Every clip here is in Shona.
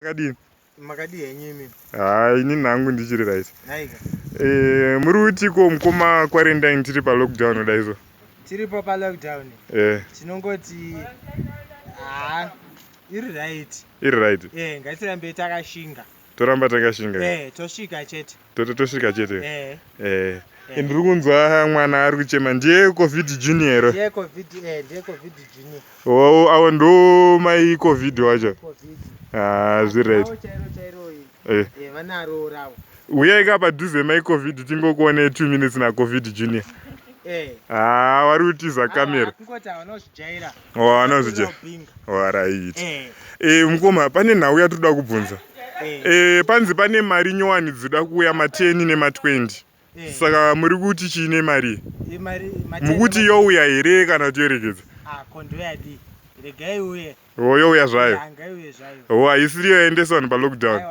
Makadii? Makadii henyu imi? Haa ini nangu ndichiri right. Haika. Eh, muri utiko mukoma quarantine tiri pa lockdown kudai so. Tiri pa pa lockdown. Eh. Tinongoti haa iri right. Iri right. Eh, ngatirambe takashinga. Toramba takashinga. Eh, tosvika chete. totosvika chete eh. eh. eh. ndiri kunzwa mwana ari kuchema ndiye covid junior ero oh, avo ndo mai covid wacho ah, zviriht uyai ka padhuze mai covid tingokuonei two minutes nacovid junior haa ah, wari kutiza kamera anozvija waraiti eh. eh, mukoma pane nhau yatinoda kubvunza eh. eh, panzi pane mari nyowani dzoda kuuya mateni nema20 eh. saka muri kuti chii nemari eh, mukuti youya here kana kuti yoregedza ah, o youya zvayo o haisiri yoendeswa vanhu palockdown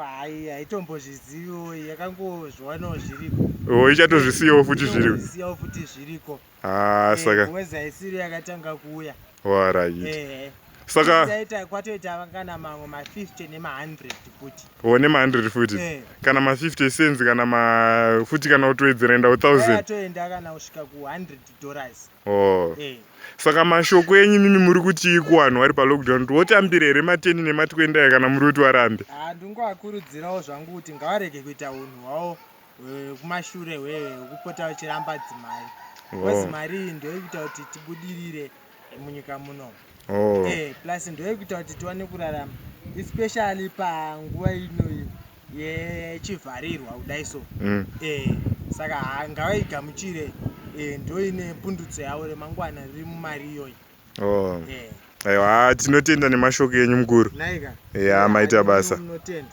o ichatozvisiyawo futi zviriko Ah, eh, saka ngozi haisiri yakatanga kuuya warai eh, saka taita kwatoita kana mamwe ma 50 nema 100 futi wo nema 100 futi eh. kana ma 50 cents kana ma futi kana utoedzera enda 1000 atoenda kana usvika ku 100 dollars oh eh. saka mashoko enyu mimi muri kuti ikuwanhu wari pa lockdown tiwotambire here mateni nematwendaya kana muri kuti warambe ah ndingoakurudzirawo zvangu kuti ngawarege kuita unhu hwawo wekumashure wekupota uchiramba dzimari bcause oh. mari iyi ndoyekuita kuti tibudirire munyika muno oh. eh, plus ndoyekuita kuti tiwane kurarama especially panguva ino yechivharirwa kudai so mm. eh, saka ngavaigamuchire eh, ndoine pundutso yavo remangwana riri mumari iyoyi oh. aiwa tinotenda nemashoko enyu mukuru ya maita basa tinotenda